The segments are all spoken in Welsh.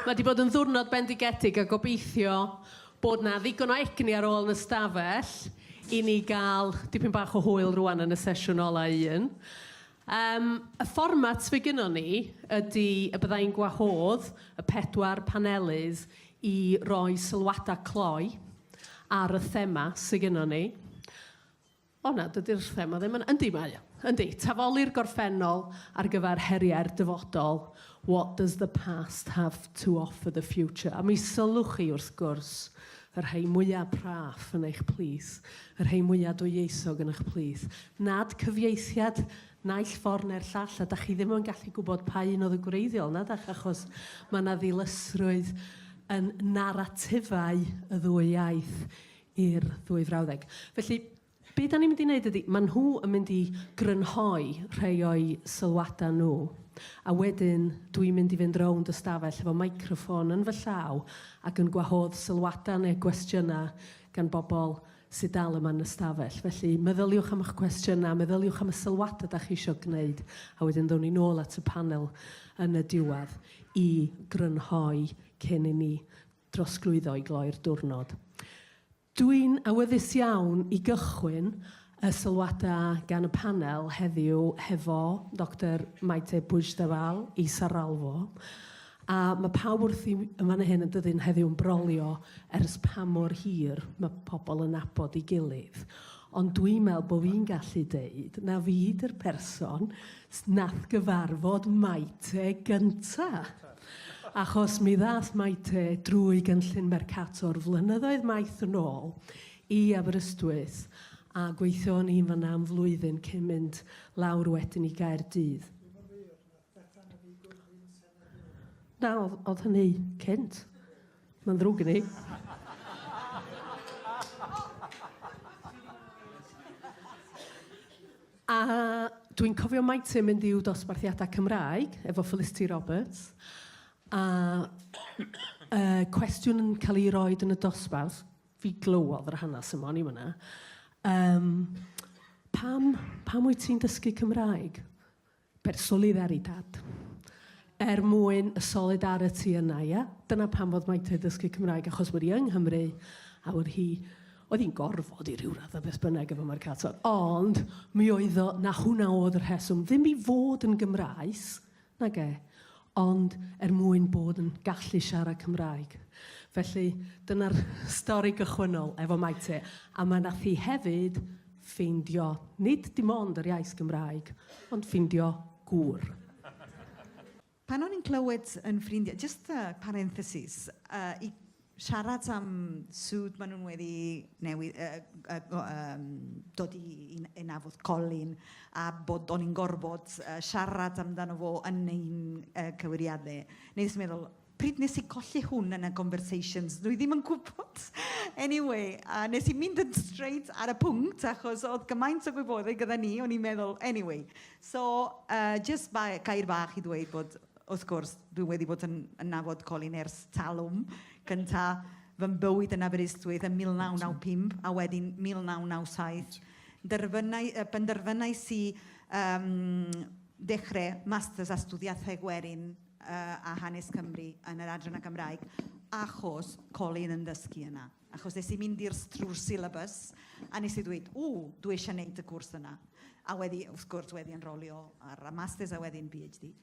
Mae wedi bod yn ddwrnod bendigedig a gobeithio bod yna ddigon o egni ar ôl yn y stafell i ni gael dipyn bach o hwyl rwan yn y sesiwn ola un. Um, y fformat fe gynnon ni ydy y byddai'n gwahodd y pedwar panelydd i roi sylwadau cloi ar y thema sydd gynnon ni. O na, dydy'r thema ddim yn... Yndi, mae o. Yndi, tafoli'r gorffennol ar gyfer heriau'r dyfodol, what does the past have to offer the future? A mi sylwch chi, wrth gwrs, y rhai mwyaf praff yn eich plith, y rhai mwyaf dwyieithog yn eich plith, nad cyfieithiad naill ffordd neu'r llall, a da chi ddim yn gallu gwybod pa un oedd y gwreiddiol, na dach, achos mae yna ddilysrwydd yn naratifau y ddwy iaith. i'r ddwy frawddeg. Felly, be da ni'n mynd i wneud ydy, maen nhw yn mynd i grynhoi rhai o'i sylwadau nhw, a wedyn dwi'n mynd i fynd rownd y stafell efo microffon yn fy llaw ac yn gwahodd sylwadau neu gwestiynau gan bobl sydd dal yma yn y stafell. Felly, meddyliwch am eich cwestiynau, meddyliwch am y sylwadau da chi eisiau gwneud, a wedyn ddown ni nôl at y panel yn y diwedd i grynhoi cyn i ni drosglwyddo i gloi'r diwrnod. Dwi'n awyddus iawn i gychwyn y sylwadau gan y panel heddiw hefo Doctor Maite Puigdevall i Sarralfo, a mae pawb wrth i yn fan hyn yn dyddyn heddiw yn brolio ers pa mor hir mae pobl yn nabod ei gilydd. Ond dwi'n meddwl bod fi'n gallu deud na fi 'di'r person nath gyfarfod Maite gynta'. Achos mi ddaeth Maite drwy gynllun Mercator flynyddoedd maith yn ôl i Aberystwyth a gweithio o'n i'n fan'na am flwyddyn cyn mynd lawr wedyn i Gaerdydd. Dwi'm yn wir, nath Bethan a fi godi'n senedd Nôl. Na, o'dd o'dd hynny cynt. Mae'n ddrwg gen i. A dwi'n cofio maint yn mynd i'w dosbarthiadau Cymraeg efo Felicity Roberts, a uh, cwestiwn yn cael ei roed yn y dosbarth, fi glywodd yr hanes yma, o'n i fyna. Um, pam, pam wyt ti'n dysgu Cymraeg? Per solidaritat. Er mwyn y solidarity yna, ia? Dyna pam fod Mike wedi dysgu Cymraeg, achos bod hi yng Nghymru, a bod hi... Oedd hi'n gorfod i ryw raddau beth bynnag efo Mercator, ond mi oedd o, 'na hwnna oedd y rheswm, ddim i fod yn Gymraes, nage, ond er mwyn bod yn gallu siarad Cymraeg. Felly, dyna'r stori gychwynnol efo Maite, a mae nath hi hefyd ffeindio nid dim ond yr iaith Gymraeg, ond ffeindio gŵr. Pan o'n i'n clywed yn ffrindiau, just a parenthesis, uh, i Siarad am sut maen nhw'n wedi newid, yy, yy, yym, dod i i i nabod Colin, a bod o'n i'n gorfod yy siarad amdano fo yn ein yy cywiriadau. Wnes i meddwl, pryd wnes i golli hwn yn y conversations? Dwi ddim yn gwybod! Anyway, a wnes i mynd yn straight ar y pwnc, achos oedd gymaint o gwybodaeth gyda ni, o'n i'n meddwl, anyway. So, yy, jyst ba- gair bach i ddweud bod... Wrth gwrs, dwi wedi bod yn, yn nafod colin ers talwm. Cynta fy mywyd yn Aberystwyth yn 1995 a wedyn 1997. Derfynau, uh, penderfynau si um, dechrau masters a studiaethau gwerin uh, a hanes Cymru yn yr adran y Gymraeg achos colin yn dysgu yna. Achos nes i mynd i'r trwy'r syllabus a nes i ddweud, ww, dwi eisiau gwneud y cwrs yna. A wedi, wrth gwrs, wedi enrolio ar y masters a wedyn PhD.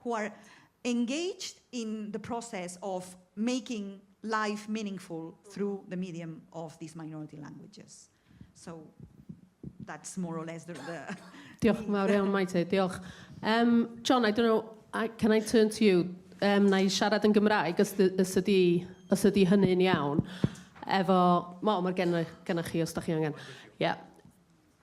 who are engaged in the process of making life meaningful through the medium of these minority languages. So that's more or less the... the diolch yn fawr iawn, Maite, diolch. Um, John, I don't know, I, can I turn to you? Um, na i siarad yn Gymraeg, os, os, ydi, os ydi hynny'n iawn. Efo, mo, mae'r gennych chi, os da chi angen. Yeah.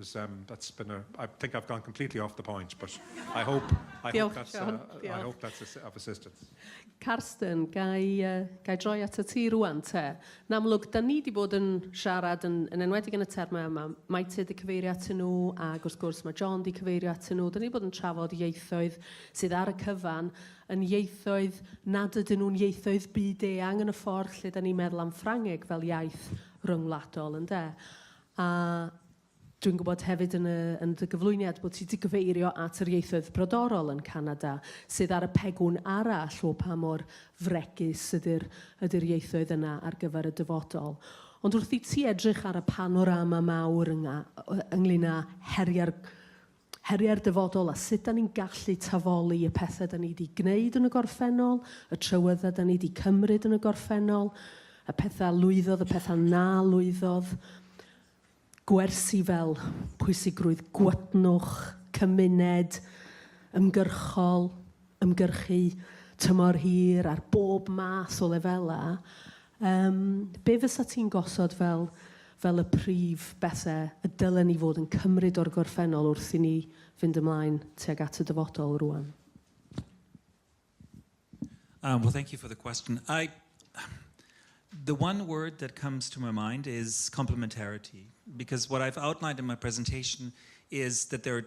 Is um, that's been a, I think I've gone completely off the point, but I hope, I hope, that's, uh, I hope that's a, of assistance. Carsten, gai, uh, gai droi at y ti rwan te. Yn amlwg, da ni wedi bod yn siarad yn, yn enwedig yn y termau yma. Mae ti wedi cyfeirio at nhw, a gwrs gwrs mae John wedi cyfeirio at nhw. Da ni wedi bod yn trafod ieithoedd sydd ar y cyfan yn ieithoedd nad ydyn nhw'n ieithoedd byd eang yn y ffordd lle da ni'n meddwl am Ffrangeg fel iaith ryngwladol, ynddo? A dwi'n gwybod hefyd yn y, yn dy gyflwyniad bod ti 'di gyfeirio at yr ieithoedd brodorol yn Canada sydd ar y pegwn arall o pa mor fregus ydy'r, ydy'r ieithoedd yna ar gyfer y dyfodol. Ond wrth i ti edrych ar y panorama mawr ynga- ynglŷn â heriau'r heriau'r dyfodol a sut 'da ni'n gallu tafoli y pethe 'da ni 'di gneud yn y gorffennol, y trywydda 'da ni 'di cymryd yn y gorffennol, y petha lwyddodd, y petha na lwyddodd, gwersi fel pwysigrwydd gwytnwch, cymuned, ymgyrchol, ymgyrchu tymor hir ar bob math o lefelau, yym, be fysa ti'n gosod fel, fel y prif bethe y dylen ni fod yn cymryd o'r gorffennol wrth i ni fynd ymlaen tuag at y dyfodol rwan? Um, well, thank you for the question. I, the one word that comes to my mind is complementarity, because what I've outlined in my presentation is that there are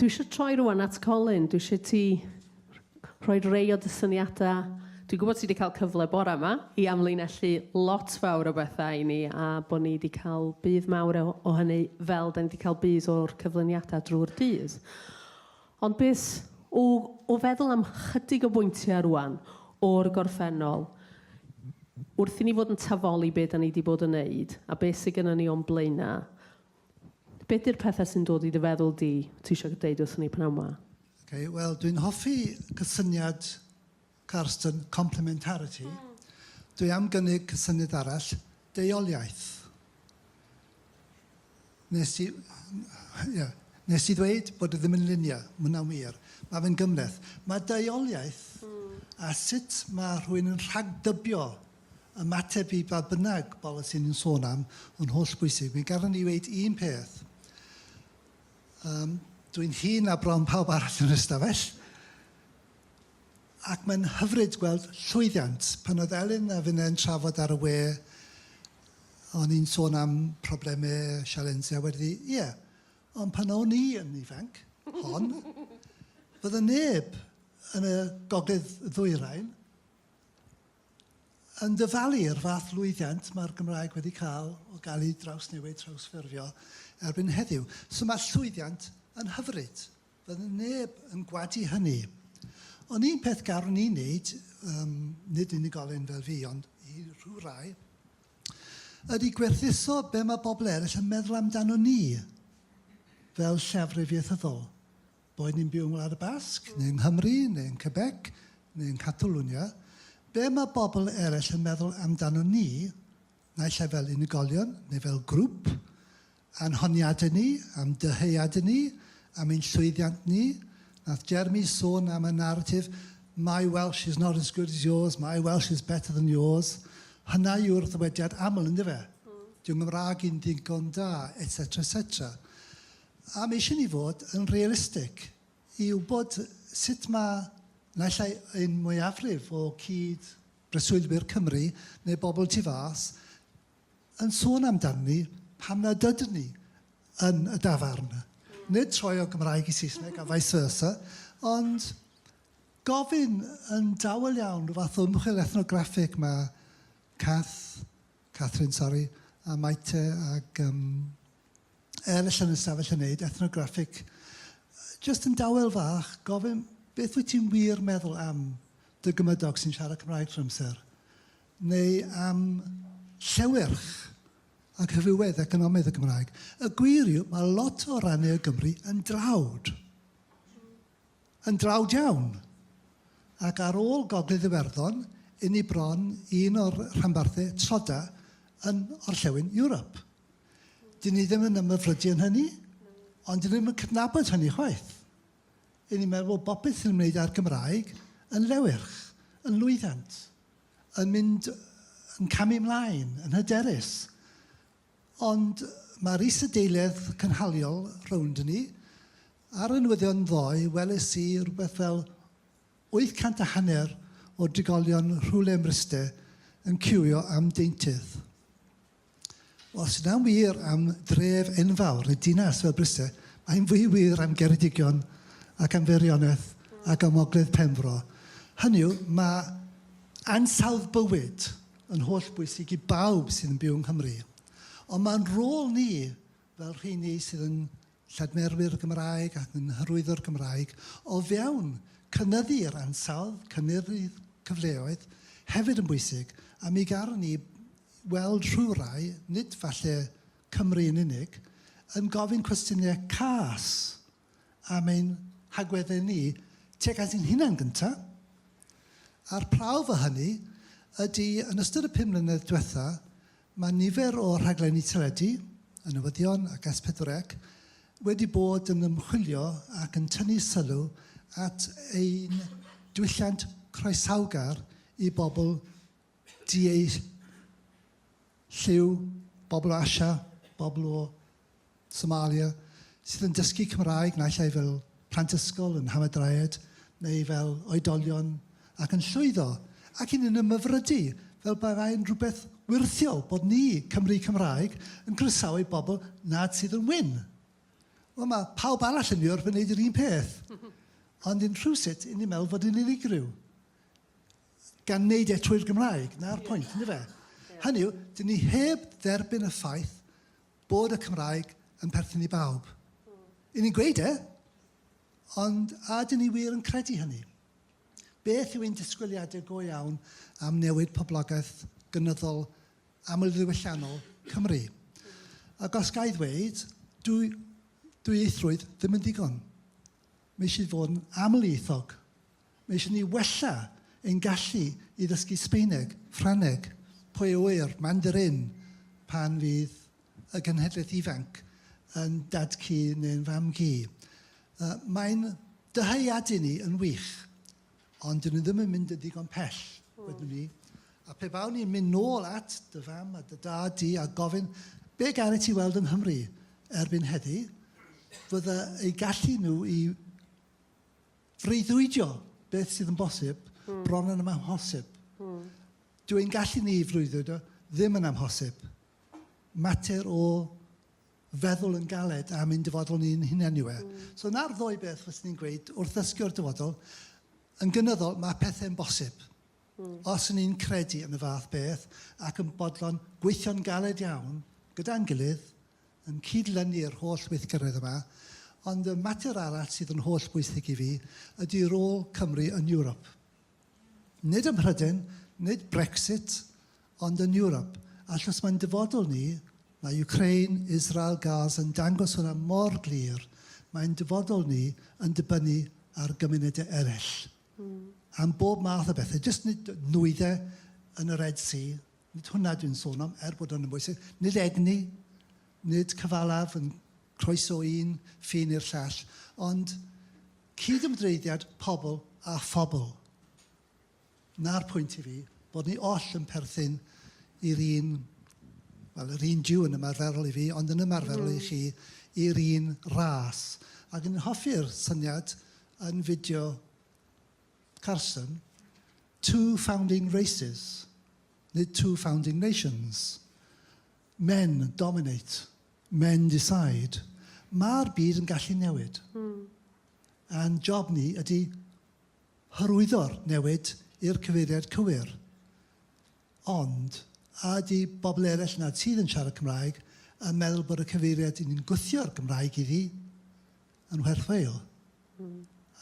Dwi eisiau troi rwan at Colin. Dwi eisiau ti rhoi rei o dy syniadau. Dwi'n gwybod ti wedi cael cyfle bore yma i amlinellu lot fawr o bethau i ni a bod ni wedi cael budd mawr o, o hynny fel da ni wedi cael budd o'r cyflwyniadau drwy'r dydd. Ond beth o, o feddwl am chydig o bwyntiau rwan o'r gorffennol wrth i ni fod yn tafoli beth da ni wedi bod yn wneud a beth sydd gennym ni o'n blaenau, Beth yw'r pethau sy'n dod i dy feddwl di, ti eisiau deud wrthon ni pnawn 'ma? Ok, wel dwi'n hoffi cysyniad Carsten, complementarity. Dwi am gynnig cysyniad arall, deuoliaeth. Nes ti... ie. Nes ti ddweud bod e ddim yn luniau, mae hwnna'n wir. Mae fe'n gymhleth. Mae deuoliaeth a sut mae rhywun yn rhagdybio ymateb i ba bynnag bolisi ni'n sôn am yn hollbwysig. Mi gafon ni weud un peth, um, dwi'n hŷn a bron pawb arall yn ystafell, ac mae'n hyfryd gweld llwyddiant. Pan oedd Elin a finne yn trafod ar y we, o'n i'n sôn am problemau, sialensau, wedi ddi, ie, yeah. ond pan o'n i yn ifanc, hon, fydde neb yn y gogledd ddwyrain Yn dyfalu i'r fath lwyddiant mae'r Gymraeg wedi cael o gael ei drawsnewid, trawsffurfio, erbyn heddiw. So mae'r llwyddiant yn hyfryd. Fydde neb yn gwadu hynny. Ond un peth garwn ni wneud, um, nid unigolyn fel fi, ond i rhyw rai, ydy gwerthuso be mae bobl eraill yn meddwl amdano ni fel llefrif ieithyddol. boed ni'n byw yng Ngwlad y Basg, neu yng Nghymru, neu yn Quebec, neu yn Catalwnia, be' ma' bobl eraill yn meddwl amdanon ni, naill ai fel unigolion neu fel grŵp, a'n honiadau ni, a'n dyheadau ni, am ein llwyddiant ni. Nath Jeremy sôn am y naratif 'my Welsh is not as good as yours, my Welsh is better than yours'. Hynna yw'r ddywediad aml, yndyfe? Dyw 'y Nghymraeg i'n ddigon da, et cetera, et cetera. A mi eisiau ni fod yn realistig i wybod sut mae naill ai ein mwyafrif o cyd-breswylwyr Cymru neu bobl tu fas yn sôn amdanyn ni pan nad ydyn ni yn y dafarn. Nid troi o Gymraeg i Saesneg a vice versa, ond gofyn yn dawel iawn rhyw fath o ymchwil ethnograffig mae Cath Catherine, sori, a Maite ag yym Elis yn y stafell yn neud ethnograffig. Jyst yn dawel fach, gofyn beth wyt ti'n wir meddwl am dy gymydog sy'n siarad Cymraeg trwy'r amser? Neu am llewyrch ac rhywedd economaidd y Gymraeg? Y gwir yw, mae lot o rannau o Gymru yn dlawd. yn dlawd iawn, ac ar ôl Gogledd Iwerddon, i ni bron i un o'r rhanbarthau troda yn orllewin Ewrop. Dyn ni ddim yn ymhyfrydu yn hynny, ond dyn ni ddim yn cydnabod hynny chwaith. I ni meddwl bod bopeth sy'n ymwneud â'r Gymraeg yn lewyrch, yn lwyddant, yn mynd yn camu mlaen, yn hyderus. Ond mae'r isadeiledd cynhaliol rownd ni. Ar y newyddion ddoe weles i rywbeth fel wyth cant a hanner o drigolion rhywle ym Mryste yn ciwio am deintydd. Os yna'n wir am dref enfawr neu dinas fel Bryste, mae'n fwy wir am Geredigion ac am Feirioneth ac am Ogledd Penfro. Hynny yw, mae ansawdd bywyd yn hollbwysig i bawb sydd yn byw yng Nghymru, ond mae'n rôl ni fel rheini sydd yn lladmerwyr y Gymraeg ac yn hyrwyddo'r Gymraeg o fewn cynyddu'r ansawdd, cynyddu'r cyfleoedd, hefyd yn bwysig, a mi garon ni weld rhywrai, nid falle Cymru yn unig, yn gofyn cwestiynau cas am ein hagweddau ni tuag at ein hunain gynta', a'r prawf o hynny ydi yn ystod y pum mlynedd dwetha' ma' nifer o rhaglenni teledu, y newyddion ac S pedwar Ec, wedi bod yn ymchwilio ac yn tynnu sylw at ein diwylliant croesawgar i bobl di-eu-lliw, bobl o Asia, bobl o Somalia sydd yn dysgu Cymraeg naill ai fel plant ysgol, yn hamadryed neu fel oedolion ac yn llwyddo ac yn yn ymhyfrydu fel bai'n rhywbeth wyrthiol bod ni, Cymry Cymraeg, yn croesawu bobl nad sydd yn wyn. Wel mae pawb arall yn Ewrop yn gwneud yr un peth. Ond yn rhywsut, yn ni'n meddwl fod yn unigryw. Gan wneud e trwy'r Gymraeg, na'r pwynt, yn fe? Hynny yw, dyn ni heb dderbyn y ffaith bod y Cymraeg yn perthyn i bawb. I ni'n gweud e, ond a ydyn ni wir yn credu hynny? Beth yw ein disgwyliadau go iawn am newid poblogaeth gynyddol amlddiwylliannol Cymru? Ac os ga i ddweud, dyw dwyieithrwydd ddim yn ddigon. Mae eisiau fod yn amlieithog. Mae eisiau ni wella ein gallu i ddysgu Sbaeneg, Ffrangeg, pwy a ŵyr, Mandarin, pan fydd y genhedlaeth ifanc yn dad-cu neu'n fam-gu. Yy, mae'n dyheadu ni yn wych. Ond dyn ni ddim yn mynd yn ddigon pell, wedwn ni. A pe bawn ni'n mynd nôl at dy fam a dy dad di a gofyn be gari ti weld yng Nghymru erbyn heddi, fydda eu gallu nhw i freuddwydio beth sydd yn bosib mm. bron yn amhosib. Mm. Dw i'n gallu ni freuddwydio ddim yn amhosib. Mater o feddwl yn galed am ein dyfodol ni'n hunain yw e. So 'na'r ddwy beth fyswn i'n gweud wrth ddysgu o'r dyfodol. Yn gynyddol, mae pethe'n bosib. Os y'n ni'n credu yn y fath beth ac yn bodlon gweithio'n galed iawn gyda'n gilydd, yn cyd-lynu yr holl weithgaredd yma, ond y mater arall sydd yn holl bwysig i fi ydy rôl Cymru yn Ewrop. Nid ym Mhryden, nid Brexit, Ond yn Ewrop, achos mae'n dyfodol ni, mae Ukraine, Israel, Gaza yn dangos hwnna mor glir, mae'n dyfodol ni yn dibynnu ar gymunedau eraill am bob math o bethau, jyst nid nwyddau yn y Red Sea, nid hwnna dwi'n sôn am, er bod hwnna'n bwysig, nid egni, nid cyfalaf yn croeso un ffin i'r llall, ond cyd-ymdreiddiad pobl â phobl. 'na'r pwynt i fi, bod ni oll yn perthyn i'r un, wel, yr un Jiw yn ymarferol i fi, ond yn ymarferol i chi, i'r un ras. Ac yn hoffi'r syniad yn fideo Carson, two founding races, nid two founding nations. Men dominate, men decide. Mae'r byd yn gallu newid. A'n job ni ydy Hyrwyddo'r newid i'r cyfeiriad cywir. Ond, a ydy bobl eraill nad sydd yn siarad Cymraeg yn meddwl bod y cyfeiriad i ni'n gwthio'r Gymraeg iddi yn werth wael?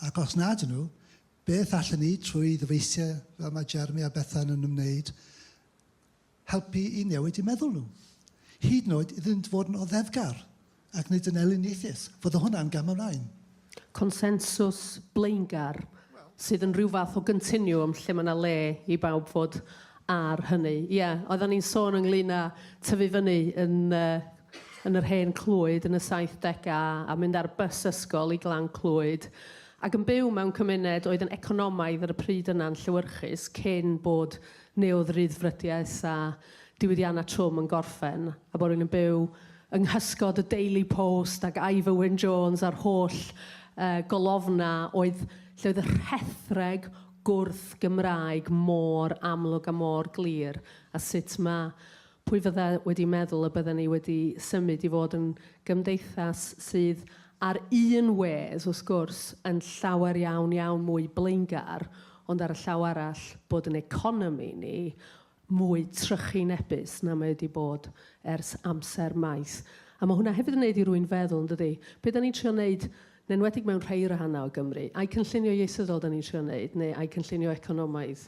Ac os nad ydyn nhw, beth allen ni, trwy ddyfeisiau fel mae Jeremy a Bethan yn ymwneud, helpu i newid eu meddwl nhw, hyd yn oed iddynt fod yn oddefgar ac nid yn elyniaethus, fod o hwnna'n gam ymlaen. Consensws blaengar sydd yn rhyw fath o gontinwwm lle mae yna le i bawb fod ar hynny. Ie, oeddan ni'n sôn ynglyn â tyfu fyny yn yn yr hen Clwyd yn y 70au a mynd ar bus ysgol i Glan Clwyd ac yn byw mewn cymuned oedd yn economaidd ar y pryd yna'n llewyrchus cyn bod neu oedd ryddfrydiaeth a diwydiannau trwm yn gorffen, a bod rywun yn byw yng nghysgod y Daily Post ac Ivor Wyn Jones a'r holl yy golofnau oedd lle oedd y rhethreg gwrth-Gymraeg mor amlwg a mor glir, a sut mae Pwy fydde wedi meddwl y bydden ni wedi symud i fod yn gymdeithas sydd ar un wedd, wrth gwrs, yn llawer iawn, iawn mwy blaengar, ond ar y llaw arall, bod yn economi ni mwy trychinebus na mae wedi bod ers amser maith. A mae hwnna hefyd yn wneud i rwy'n feddwl, yn dydi, be da ni'n trio wneud yn enwedig mewn rhei rhannau o Gymru, a'u cynllunio ieithyddol 'dan ni'n trio neud, neu a'u cynllunio economaidd,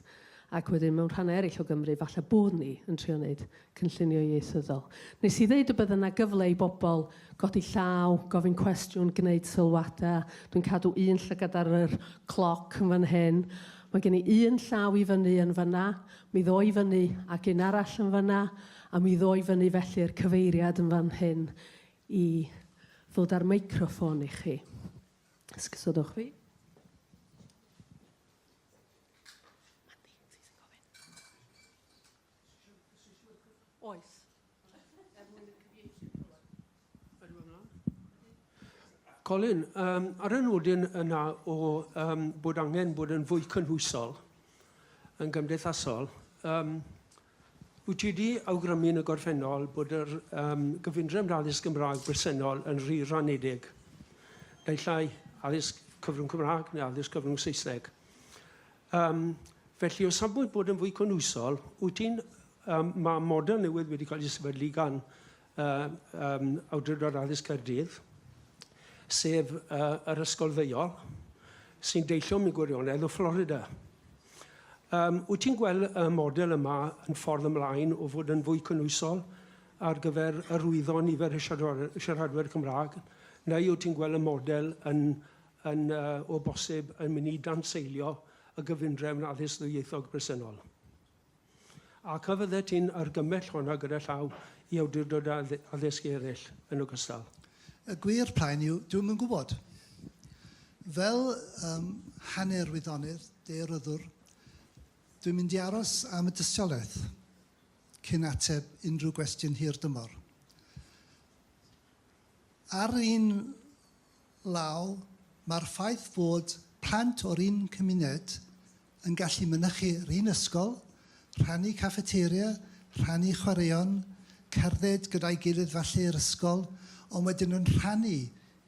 ac wedyn mewn rhannau eraill o Gymru falle bod ni yn trio neud cynllunio ieithyddol. Nes i ddeud y bydde 'na gyfle i bobl godi llaw, gofyn cwestiwn, gwneud sylwada. Dwi'n cadw un llygad ar yr cloc yn fan hyn. Mae gen i un llaw i fyny yn fanna, mi ddo i fyny ac un arall yn fanna, a mi ddo i fyny felly'r cyfeiriad yn fan hyn i ddod â'r meicroffon i chi. Os gysodwch fi. Oes. Colin, um, ar y nodyn yna o um, bod angen bod yn fwy cynhwysol yn gymdeithasol, um, Wyt ti wedi awgrymu yn y gorffennol bod yr um, gyfundrefn addysg Gymraeg bresennol yn rhy ranedig, naill ai addysg cyfrwng Cymraeg neu addysg cyfrwng Saesneg. Um, felly, o safbwynt bod yn fwy cynwysol, wyt ti'n um, mae model newydd wedi cael ei sefydlu gan y um, Awdurdod Addysg Caerdydd, sef uh, yr ysgol ddeiol, sy'n deillio mewn gwirionedd o Florida. Um, wyt ti'n gweld y model yma yn ffordd ymlaen o fod yn fwy cynwysol ar gyfer yr rwyddo nifer y siaradwyr Cymraeg, neu wyt ti'n gweld y model yn, yn uh, o bosib yn mynd i danseilio y gyfundrefn addysg ddwyieithog bresennol? Ac a fyddet ti'n argymell honna gyda llaw i awdurdodau addysg eraill yn ogystal? Y gwir plaen yw, dwi ddim yn gwybod. Fel um, hanner wyddonydd, daearyddwr, dwi'n mynd i aros am y dystiolaeth cyn ateb unrhyw gwestiwn hir dymor. Ar un law, mae'r ffaith fod plant o'r un cymuned yn gallu mynychu yr un ysgol, rhannu caffeteria, rhannu chwaraeon, cerdded gyda'i gilydd falle i'r ysgol, ond wedyn yn rhannu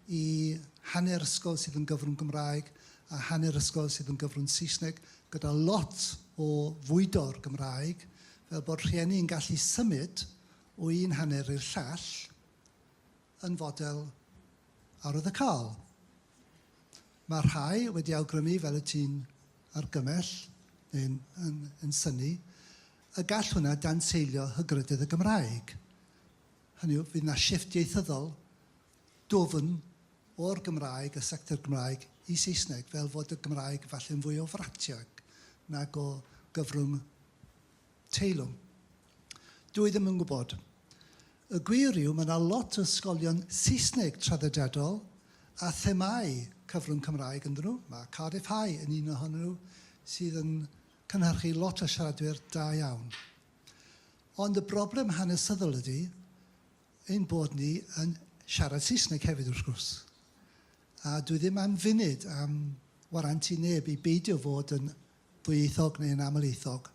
i hanner ysgol sydd yn gyfrwng Gymraeg a hanner ysgol sydd yn gyfrwng Saesneg, gyda lot o fwydo'r Gymraeg, fel bod rhieni yn gallu symud o un hanner i'r llall. yn fodel arwyddocaol. Mae rhai wedi awgrymu, fel y ti'n argymell, neu'n yn, yn syni, y gall hwnna danseilio hygrydydd y Gymraeg. Hynny yw, fydd yna shifft ieithyddol dwfn o'r Gymraeg, y sector Gymraeg, i Saesneg, fel fod y Gymraeg falle'n fwy o fratiog nag o gyfrwng teilwng. Dwi ddim yn gwybod. Y gwir yw, mae yna lot o ysgolion Saesneg traddodiadol a themâu cyfrwng Cymraeg ynddyn nhw. Mae Cardiff High yn un ohonyn nhw sydd yn cynhyrchu lot o siaradwyr da iawn. Ond y broblem hanesyddol ydy ein bod ni yn siarad Saesneg hefyd wrth gwrs. A dwi ddim am funud am warantu neb i beidio fod yn ddwyieithog neu'n amlieithog.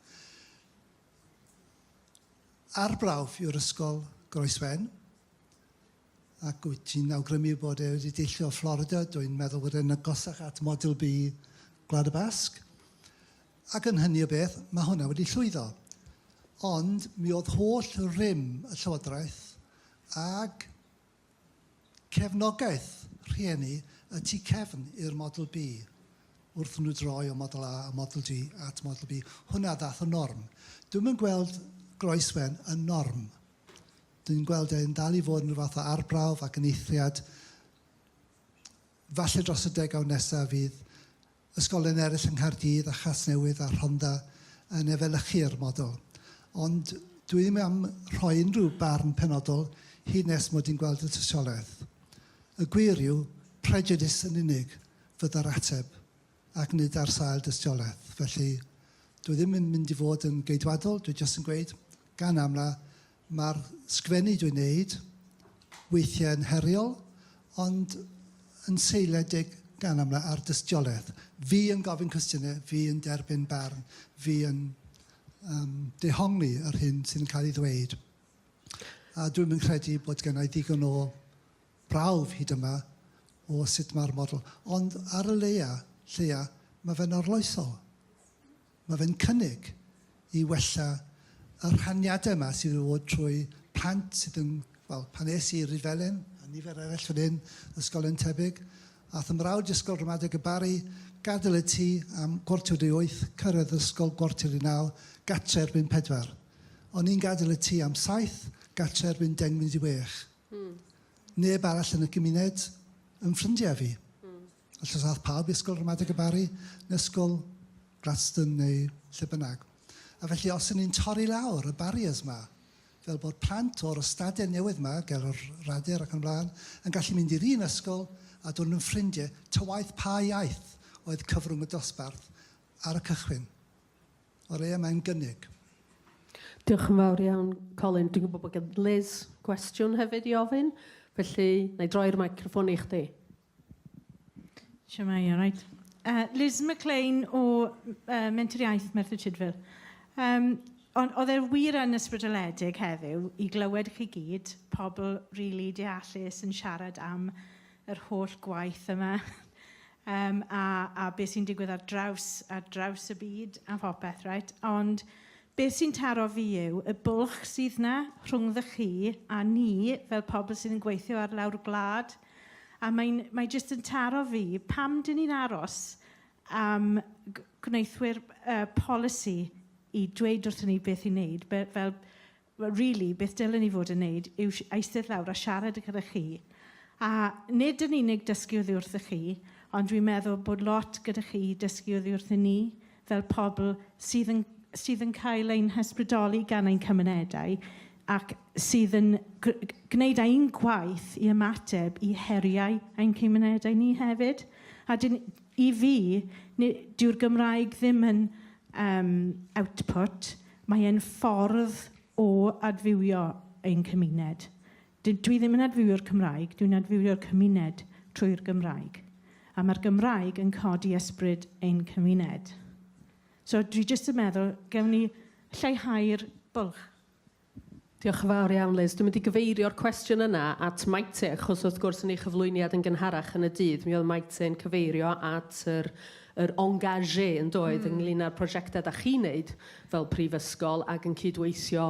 Arbrawf yw'r ysgol Groeswen ac wyt ti'n awgrymu bod e wedi deillio o Florida, dwi'n meddwl bod e'n agosach at Model B Gwlad y Basg, ac yn hynny o beth, mae hwnna wedi llwyddo. Ond mi oedd holl rym y Llywodraeth ag Cefnogaeth rhieni y tu cefn i'r Model B, wrth nhw droi o Model A a Model G at Model B, hwnna ddaeth yn norm. Dwi'm yn gweld groeswen yn norm. Dwi'n gweld e'n dal i fod yn rhyw fath o arbrawf ac yn eithriad. Falle dros y degawd nesaf fydd Ysgolion eraill yng Nghaerdydd a Chasnewydd a Rhondda yn efelychu'r model. Ond dwi ddim am rhoi unrhyw barn penodol hyd nes mod i'n gweld y tystiolaeth. Y gwir yw, prejudice yn unig fydda'r ateb, ac nid ar sail dystiolaeth. Felly, dwi ddim yn mynd i fod yn geidwadol, dwi jyst yn gweud, gan amla, Mae'r sgwennu dwi'n wneud weithiau yn heriol, ond yn seiliedig gan amla ar dystiolaeth. Fi yn gofyn cwestiynau, fi yn derbyn barn, fi yn um, dehongli yr hyn sydd yn cael ei ddweud. A dwi'n yn credu bod gennau ddigon o brawf hyd yma o sut mae'r model. Ond ar y leia, lleia, mae fe'n orloesol. Mae fe'n cynnig i wella y rhaniadau yma sydd wedi bod trwy plant sydd yn, wel, pan es i i Rhyfelen, a nifer eraill fan hyn, ysgolion tebyg, aeth 'y mrawd i Ysgol Ramadeg y Barri, gadael y tŷ am gwarter wedi wyth, cyrraedd yr ysgol gwarter i naw, gartre erbyn pedwar. O'n i'n gadael y tŷ am saith, gartre erbyn deng munud i wech. Neb arall yn y gymuned yn ffrindiau fi. Os oes ath pawb i Ysgol Ramadeg y Barri, neu Ysgol Gladstone neu lle bynnag. A felly os y'n ni'n torri lawr y barriers 'ma, fel bod plant o'r ystadau newydd 'ma, ger yr Radur ac yn y blaen, yn gallu mynd i'r un ysgol a dod yn ffrindiau, ta waeth pa iaith oedd cyfrwng y dosbarth ar y cychwyn. O leia mae'n gynnig. Diolch yn fawr iawn, Colin. Dwi'n gwybod bod gen Liz gwestiwn hefyd i ofyn, felly na i droi'r microffon i chdi. Siamai, all right. Uh, Liz McLean o uh, Menter Iaith Merthyr Tudful. Um, ond oedd e'r wir yn ysbrydoledig heddiw i glywed chi gyd, pobl rili really deallus yn siarad am yr holl gwaith yma um, a, a beth sy'n digwydd ar draws, ar draws y byd a phopeth, right? Ond beth sy'n taro fi yw y bwlch sydd na rhwngddo chi a ni fel pobl sydd yn gweithio ar lawr gwlad, A mae'n, mae jyst yn taro fi, pam dyn ni'n aros am gwneithwyr uh, polisi i dweud wrthyn ni beth i wneud, Be, fel, really, beth dylen ni fod yn wneud yw eistedd lawr a siarad gyda chi. A nid yn unig dysgu oddi wrthych chi, ond dwi'n meddwl bod lot gyda chi dysgu oddi wrthyn ni, fel pobl sydd yn sydd yn cael ein hysbrydoli gan ein cymunedau ac sydd yn gwneud ein gwaith i ymateb i heriau ein cymunedau ni hefyd. A dyn, i fi, dyw'r Gymraeg ddim yn um, output, mae'n ffordd o adfywio ein cymuned. Dw- dwi ddim yn adfywio'r Cymraeg, dwi'n adfywio'r cymuned trwy'r Gymraeg. A mae'r Gymraeg yn codi ysbryd ein cymuned. So dwi jyst yn meddwl, gewn ni lleihau'r bwlch. Diolch yn fawr iawn, Liz. Dwi'n mynd i gyfeirio'r cwestiwn yna at Maite, achos wrth gwrs yn ei chyflwyniad yn gynharach yn y dydd, mi oedd Maite yn cyfeirio at yr, yr engagé yn doedd, mm. ynglyn â'r prosiectau da chi'n neud fel prifysgol ac yn cydweithio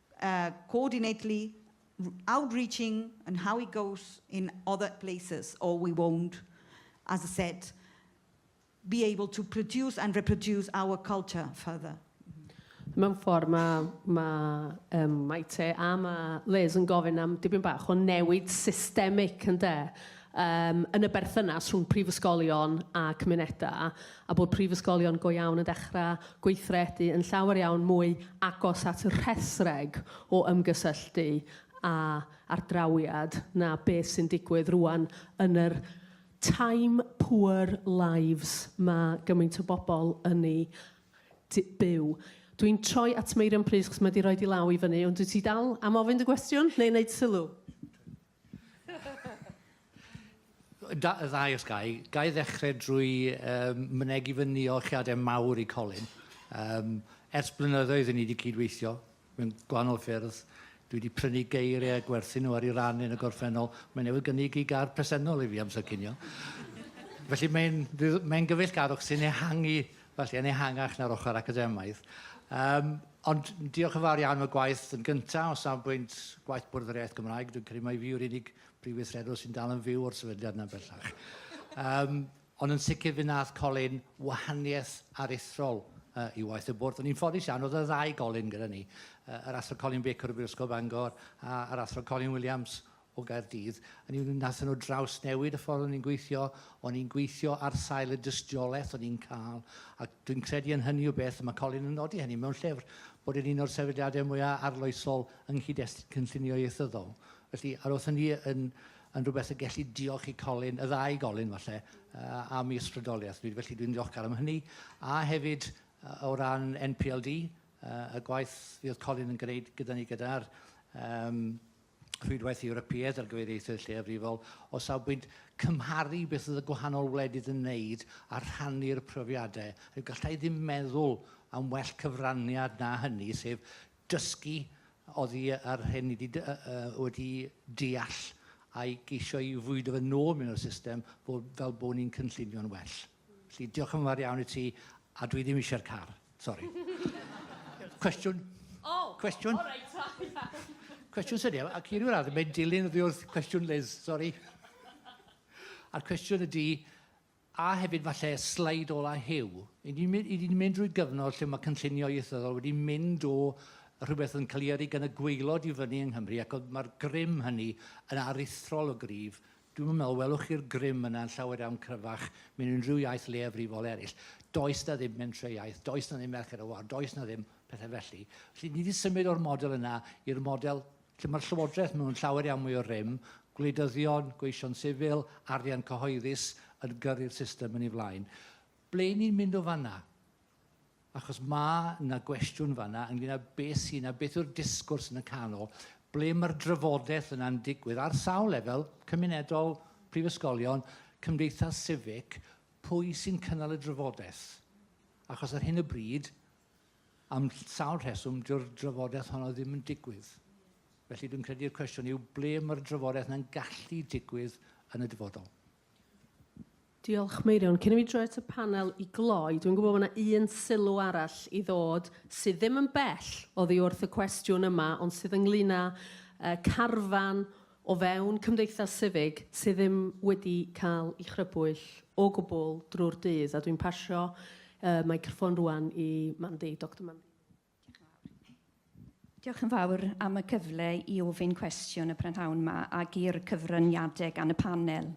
coordinately outreaching and how it goes in other places, or we won't, as I said, be able to produce and reproduce our culture further. Mewn ffordd, mae, mae um, Maite a mae Liz yn gofyn am dipyn bach o newid systemig, ynde, um, yn y berthynas rhwng prifysgolion a cymunedau, a bod prifysgolion go iawn yn dechrau gweithredu yn llawer iawn mwy agos at y rhethreg o ymgysylltu a ardrawiad na beth sy'n digwydd rŵan yn yr time poor lives ma' gymaint o bobl yn eu d- byw. Dwi'n troi at Meirion plîs, achos mae 'di rhoi 'di law i fyny, ond wyt ti dal am ofyn dy gwestiwn neu wneud sylw? Da, y ddau os gai. Gai ddechrau drwy um, mynegi fy niolchiadau mawr i Colin. Um, ers blynyddoedd i ni wedi cydweithio mewn gwahanol ffyrdd. Dwi wedi prynu geiriau a gwerthu nhw ar ei ran yn y gorffennol. Mae newydd gynnig i gar presennol i fi amser cynio. Felly mae'n mae gyfeillgarwch sy'n ehangu, felly yn ehangach na'r ochr academaidd. Um, Ond diolch yn fawr iawn am y gwaith yn gyntaf o safbwynt gwaith Bwrdd yr Iaith Gymraeg. Dwi'n credu mai fi yw'r unig brif weithredwr sy'n dal yn fyw o'r sefydliad yna bellach. Um, ond yn sicr fe nath Colin wahaniaeth aruthrol uh, i waith y bwrdd. O'n i'n ffodus iawn, oedd y ddau Colin gyda ni. Uh, yr athro Colin Baker o Brifysgol Bangor a'r athro Colin Williams o Gaerdydd. Hynny yw, wnaethon nhw drawsnewid y ffordd o'n i'n gweithio, o'n i'n gweithio ar sail y dystiolaeth o'n i'n cael, a dwi'n credu yn hynny o beth, mae Colin yn nodi hynny mewn llyfr, bod e'n un o'r sefydliadau mwyaf arloesol yng nghyd-destun cynllunio ieithyddol. Felly, ar oedd hynny yn, yn rhywbeth y gelli diolch i Colin, y ddau Golin falle, am ei ysbrydoliaeth. Felly dwi'n ddiolchgar am hynny. A hefyd, o ran NPLD, y gwaith fi oedd Colin yn gwneud gyda ni gyda'r um, Rhwydwaith Ewropeaidd ar gyfer Ieithoedd Lleiafrifol, o safbwynt cymharu beth oedd y gwahanol wledydd yn wneud a rhannu'r profiadau, rhaid gallai ddim meddwl am well cyfraniad na hynny, sef dysgu oddi ar hyn ni wedi, wedi deall a'i geisio i fwydo fe nôl mewn i'r system fel bod ni'n cynllunio'n well. Felly, diolch yn fawr iawn i ti, a dwi ddim eisiau'r car. Sori. Cwestiwn? O! Cwestiwn? O, reit, o, iawn. Cwestiwn sy'n iawn, ac i ryw radd, mae'n dilyn oddi wrth cwestiwn Liz, sori. A'r cwestiwn ydy, a hefyd falle slaid ola Huw, i ni'n mynd, ni mynd drwy gyfnod lle mae cynllunio ieithyddol wedi mynd o rhywbeth yn cael ei yrru gan y gweilod i fyny yng Nghymru, ac mae'r grym hynny yn aruthrol o gryf, Dwi'm yn meddwl welwch chi'r grym yna yn llawer iawn cryfach mewn unrhyw iaith leiafrifol eraill. Does 'na ddim mentrau-iaith, does 'na ddim merched ar wal, does 'na ddim pethe felly. Felly, ni 'di symud o'r model yna i'r model lle ma'r Llywodraeth mewn llawer iawn mwy o rym, gwleidyddion, gweision sifil, arian cyhoeddus yn gyrru'r system yn ei flaen. Ble 'yn ni'n mynd o fan'na? Achos mae 'na gwestiwn fan'na ynglŷn â beth sy'n a beth yw'r disgwrs yn y canol, ble mae'r drafodaeth yna'n digwydd ar sawl lefel, cymunedol, prifysgolion, cymdeithas sifig, pwy sy'n cynnal y drafodaeth? Achos ar hyn o bryd, am sawl rheswm, dyw'r drafodaeth honno ddim yn digwydd. Felly dwi'n credu'r cwestiwn yw ble mae'r drafodaeth yna'n gallu digwydd yn y dyfodol. Diolch, Meirion. Cyn i fi droi at y panel i gloi, dwi'n gwybod bod yna un sylw arall i ddod sydd ddim yn bell oddi wrth y cwestiwn yma, ond sydd ynglyn â uh, carfan o fewn cymdeithas sifig sydd ddim wedi cael ei chrybwyll o gwbl drwy'r dydd. A dwi'n pasio uh, microffon rwan i Mandy, Dr Mandy. Diolch yn fawr am y cyfle i ofyn cwestiwn y prynhawn yma ac i'r cyfraniadau gan y panel.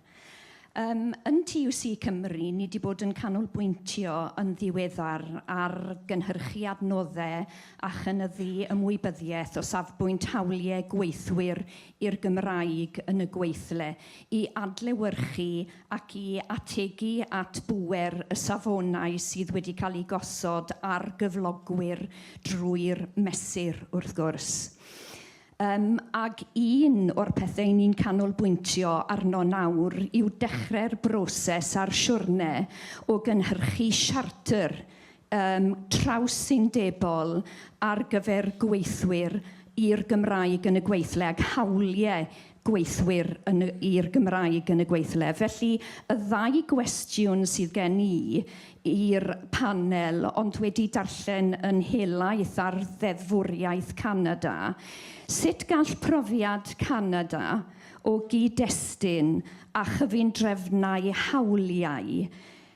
Um, yn TUC Cymru, ni wedi bod yn canolbwyntio yn ddiweddar ar gynhyrchu adnoddau a chynyddu ymwybyddiaeth o safbwynt hawliau gweithwyr i'r Gymraeg yn y gweithle i adlewyrchu ac i ategu at bŵer y safonau sydd wedi cael eu gosod ar gyflogwyr drwy'r Mesur, wrth gwrs. Yym, ac un o'r pethau 'yn ni'n canolbwyntio arno nawr yw dechrau'r broses a'r siwrne o gynhyrchu siartr um, trawsundebol ar gyfer gweithwyr i'r Gymraeg yn y gweithle ac hawliau gweithwyr i'r Gymraeg yn y gweithle. Felly, y ddau gwestiwn sydd gen i i'r panel, ond wedi darllen yn helaeth ar ddeddfwriaeth Canada, sut gall profiad Canada o gyd-destun a chyfundrefnau hawliau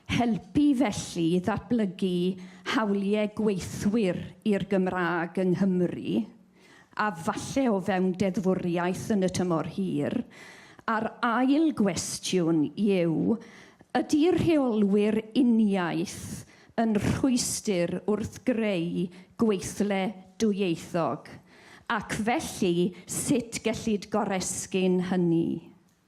Helpu felly i ddatblygu hawliau gweithwyr i'r Gymraeg yng Nghymru, a falle o fewn deddfwriaeth yn y tymor hir, a'r ail gwestiwn yw, ydy rheolwyr uniaith yn rhwystr wrth greu gweithle dwyieithog, ac felly sut gellid goresgyn hynny?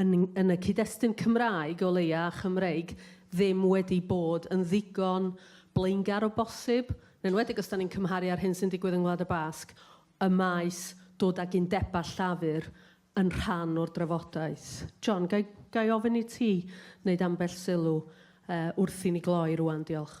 yn, yn y cyd-destun Cymraeg o leia a Chymreig ddim wedi bod yn ddigon blaengar o bosib, yn enwedig os da ni'n cymharu â'r hyn sy'n digwydd yng Ngwlad y Basg, y maes dod ag undebau llafur yn rhan o'r drafodaeth. John, ga i, ga i ofyn i ti wneud ambell sylw uh, wrth i ni gloi rwan, diolch.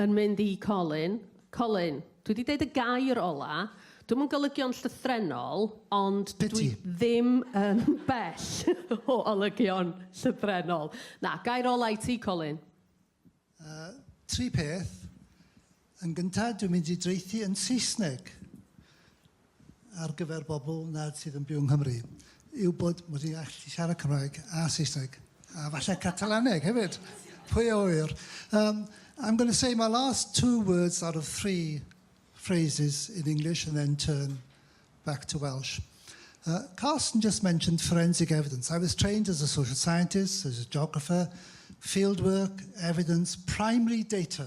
yn mynd i Colin, Colin, dwi wedi deud y gair ola, dwi'm yn golygio'n llythrennol, ond Be dwi ti? ddim yn bell o olygion llythrennol. Na, gair ola i ti, Colin. Uh, tri peth. Yn gyntaf, dwi'n mynd i dreithi yn Saesneg. ar gyfer bobl nad sydd yn byw yng Nghymru yw bod mod i'n gallu siarad Cymraeg a Saesneg, a falle Catalaneg hefyd, pwy a ŵyr. Um, I'm going to say my last two words out of three phrases in English and then turn back to Welsh. Uh, Carsten just mentioned forensic evidence. I was trained as a social scientist, as a geographer, fieldwork, evidence, primary data.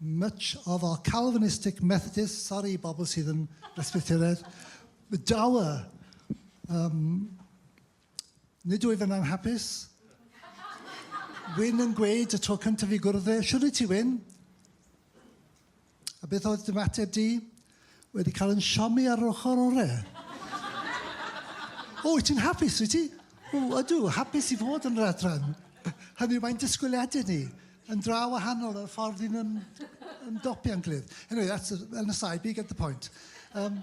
Much of our Calvinistic Methodists, sori bobl sydd yn Bresbyteraidd, dour. Um, nid wyf yn anhapus. Wyn yn gweud y tro cyntaf i gwrdd e, siwr i ti Wyn? A beth oedd dy mateb di? Wedi cael yn siomi ar yr ochr orau. o, wyt ti'n hapus, wyt ti? O, ydw, hapus i fod yn yr adran. Hynny yw, mae'n disgwyliadau ni yn dra wahanol ar y ffordd i'n ym, ymdopi a'n gilydd. Anyway, that's an aside, but you get the point. Um,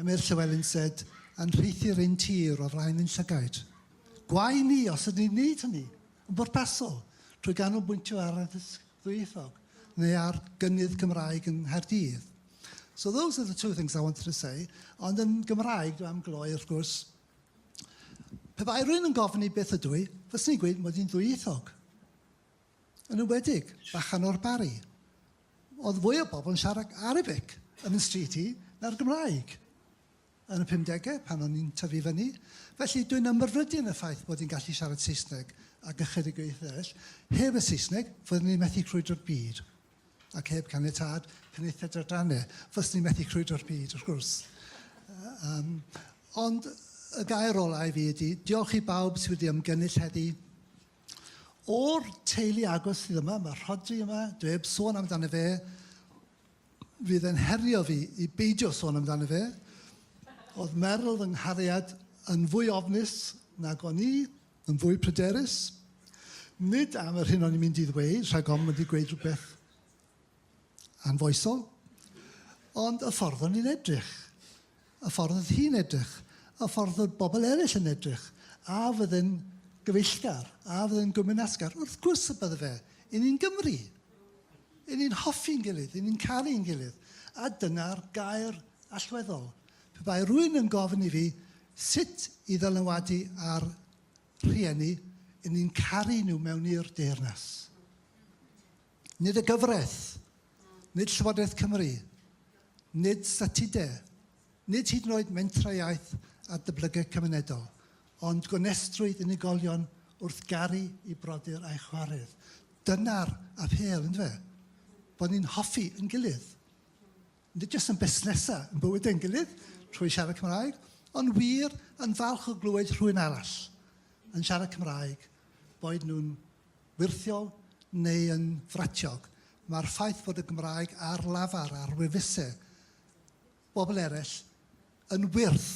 Ymyr Llywelyn Said yn rheithi'r un tir o flaen ein llygaid. Gwae ni os ydyn ni'n neud hynny, yn bwrpasol, trwy ganolbwyntio ar addysg ddwyieithog neu ar gynnydd Cymraeg yng Nghaerdydd. So those are the two things I wanted to say, ond yn Gymraeg, dwi am gloi wrth gwrs. Pe bai rwy'n yn gofyn i beth ydw i, fyswn i'n gweud mod i'n ddwyieithog. Yn enwedig, bachan o'r Barri. oedd fwy o bobl yn siarad Arabic yn y stryd i na'r Gymraeg yn y 50au pan o'n i'n tyfu fyny. Felly dwi'n ymrfrydu yn y ffaith bod i'n gallu siarad Saesneg ac ychydig o ieithoedd eraill. Heb y Saesneg, fyddwn ni'n methu crwydro'r byd. Ac heb caniatad Penaethiaid Adrannau, fyddwn ni'n methu crwydro'r byd, wrth gwrs. Um, ond y gair olau i fi ydy, diolch i bawb sydd wedi ymgynnull heddi. O'r teulu agos sydd yma, mae Rhodri yma, dwi heb sôn amdano fe, fydd e'n herio fi i beidio sôn amdano fe. Oedd Meryl fy nghariad yn fwy ofnus nag o'n i, yn fwy pryderus. Nid am yr hyn o'n i'n mynd i ddweud, rhag ofn mynd i gweud rhywbeth anfoesol, ond y ffordd o'n i'n edrych. y ffordd oedd hi'n edrych, y ffordd oedd bobl eraill yn edrych, a fydde'n gyfeillgar, a fydde'n gwmynasgar? Wrth gwrs y bydde fe! Y ni'n Gymry! Y ni'n hoffi'n gilydd, y ni'n caru'n gilydd, a dyna'r gair allweddol. Pe bai rwy'n yn gofyn i fi sut i ddylanwadu ar rhieni, y ni'n caru nhw mewn i'r deyrnas. Nid y gyfraith, Nid Llywodraeth Cymru, nid statudau, nid hyd yn oed mentrau iaith a dyblygiad cymunedol, ond gonestrwydd unigolion wrth garu i brodyr a'i chware'r. Dyna'r apêl, yn dyfe? Bod ni'n hoffi yn gilydd. Nid jyst yn busnesau, yn bywydau yn gilydd, trwy siarad Cymraeg, ond wir yn falch o glywed rhywun arall yn siarad Cymraeg, boed nhw'n wyrthiol neu yn fratiog, mae'r ffaith fod y Gymraeg ar lafar ar wefusau bobl eraill yn wyrth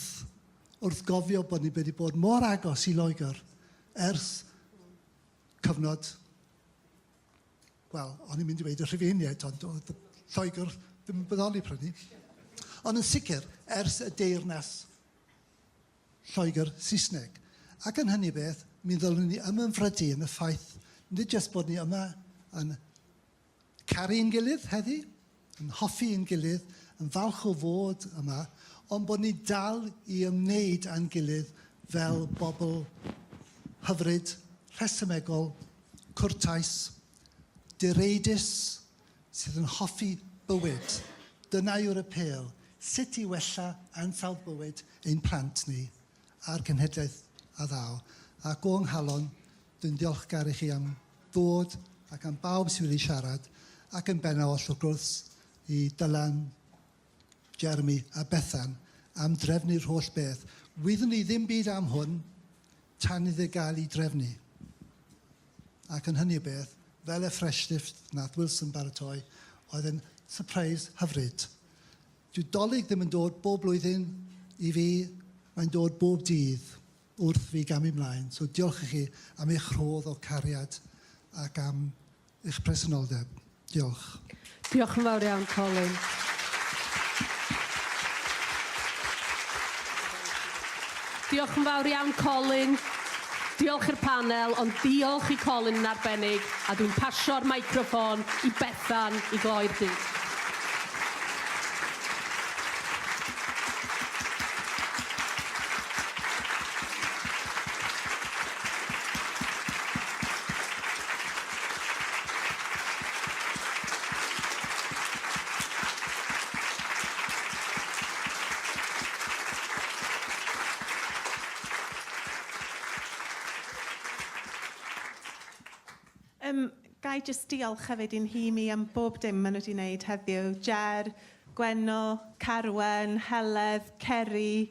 wrth gofio bod ni wedi bod mor agos i Loegr ers cyfnod, wel, o'n i'n mynd i weud y Rhufeiniaid, ond oedd Lloegr ddim yn bodoli prynu. Ond yn sicr, ers y Deyrnas Lloegr, Saesneg. Ac yn hynny beth, mi ddylwn ni ymymfrydu yn y ffaith nid jyst bod ni yma yn caru yn gilydd heddi, yn hoffi yn gilydd, yn falch o fod yma, ond bod ni dal i ymwneud â'n gilydd fel bobl hyfryd, rhesymegol, cwrtais, direidus, sydd yn hoffi bywyd, dyna yw'r apêl, sut i wella ansawdd bywyd ein plant ni, a'r cenhedlaeth a ddaw. Ac o 'nghalon, dwi'n ddiolchgar i chi am ddod ac am bawb sydd wedi siarad, ac yn bennaf oll wrth gwrs i Dylan, Jeremy a Bethan am drefnu'r holl beth. Wyddwn ni ddim byd am hwn tan iddo gael ei drefnu. Ac yn hynny o beth, fel y fresh lift nath Wilson baratoi, oedd e'n surprise hyfryd. Dyw Dolig ddim yn dod bob blwyddyn i fi, mae'n dod bob dydd. wrth fi gamu 'mlaen. So diolch i chi am eich rhodd o cariad ac am eich presenoldeb. Diolch. Diolch yn fawr iawn, Colin. Diolch yn fawr iawn, Colin. Diolch i'r panel, ond diolch i Colin yn arbennig, a dwi'n pasio'r microffon i Bethan i gloi'r dydd. Yym, ga i jyst diolch hefyd i'n nhîm i am bob dim maen nhw wedi wneud heddiw, Ger, Gwenno, Carwen, Heledd, Ceri,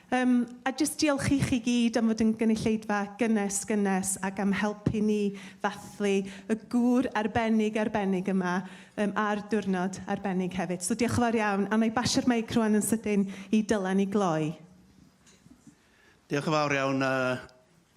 Yym, a jyst diolch i chi gyd am fod yn gynulleidfa gynnes, gynnes ac am helpu ni ddathlu y gŵr arbennig, arbennig yma yym ar diwrnod arbennig hefyd. So diolch yn fawr iawn. A wna i basio'r meic rŵan yn sydyn i Dylan i gloi. Diolch yn fawr iawn a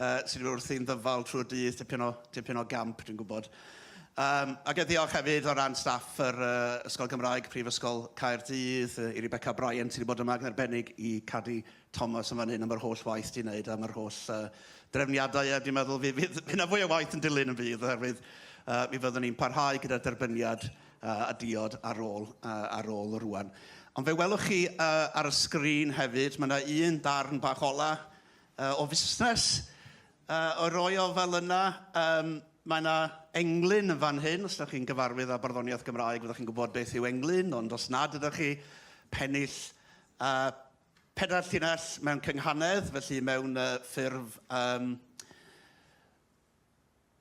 Uh, sydd wrthi'n ddyfal trwy'r dydd, tipyn o, tipyn o gamp, dwi'n gwybod. Um, ac e ddiolch hefyd o ran staff yr uh, Ysgol Gymraeg, Prifysgol Caerdydd, uh, i Rebecca Bryan sydd wedi bod yma yn arbennig i Caddy Thomas yn fan hyn am yr holl waith di'n wneud am yr holl uh, drefniadau a dwi'n meddwl fydd, fydd, fydd na fwy o waith yn dilyn yn fydd oherwydd uh, mi fyddwn ni'n parhau gyda'r derbyniad uh, a diod ar ôl, uh, ar ôl rwan. Ond fe welwch chi uh, ar y sgrin hefyd, mae yna un darn bach ola yy, o fusnes, yy, o roi o fel yna. Yym, mae yna englyn yn fan hyn, os ydych chi'n gyfarwydd â barddoniaeth Gymraeg fyddwch chi'n gwybod beth yw englyn, ond os nad ydych chi, pennill, yy, pedair llinell mewn cynghanedd, felly mewn yy, ffurf... Yym,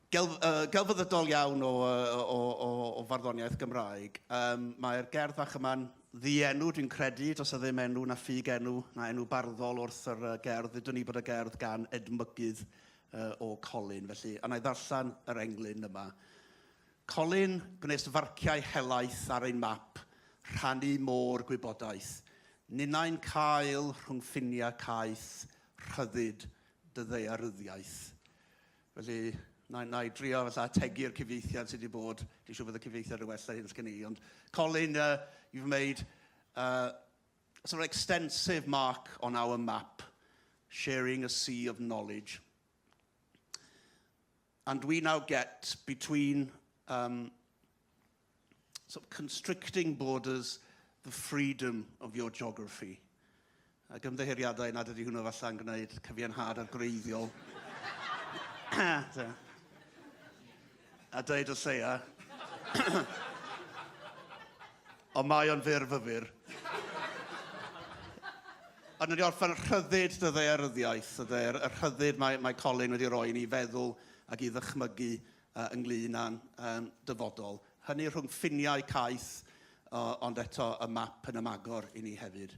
Gelf, uh, gelfyddydol iawn o, uh, o, o, o farddoniaeth Gymraeg. Um, Mae'r gerdd fach yma'n ddienw, dwi'n credu, does y ddim enw na ffug enw, na enw barddol wrth yr uh, gerdd. Ddydwn ni bod y gerdd gan edmygydd uh, o Colin, felly, a na i ddarllen yr englyn yma. Colin gwnes farciau helaeth ar ein map, rhannu môr gwybodaeth. Ninnau'n cael rhwng ffiniau caeth, rhyddid, dy ddaearyddiaeth. Felly, na, na i drio fatha ategu'r cyfieithiad sydd wedi bod. Dwi'n siŵr bod y cyfieithiad yn well na hyn sgen i. Ond Colin, uh, you've made uh, a sort of extensive mark on our map, sharing a sea of knowledge. And we now get between um, sort of constricting borders the freedom of your geography. Ac ymddeheuriadau nad ydy hwnnw falle'n gwneud cyfiawnhad ar greiddiol. a dweud o lleia. Ond mae o'n fyr fyfyr. Ond wedi orffen rhyddid dy ddaearyddiaeth, y ddaear, y rhyddid mae, mae Colin wedi roi i ni feddwl ac i ddychmygu uh, ynglyn â'n um, dyfodol. Hynny rhwng ffiniau caeth, uh, ond eto y map yn ymagor i ni hefyd.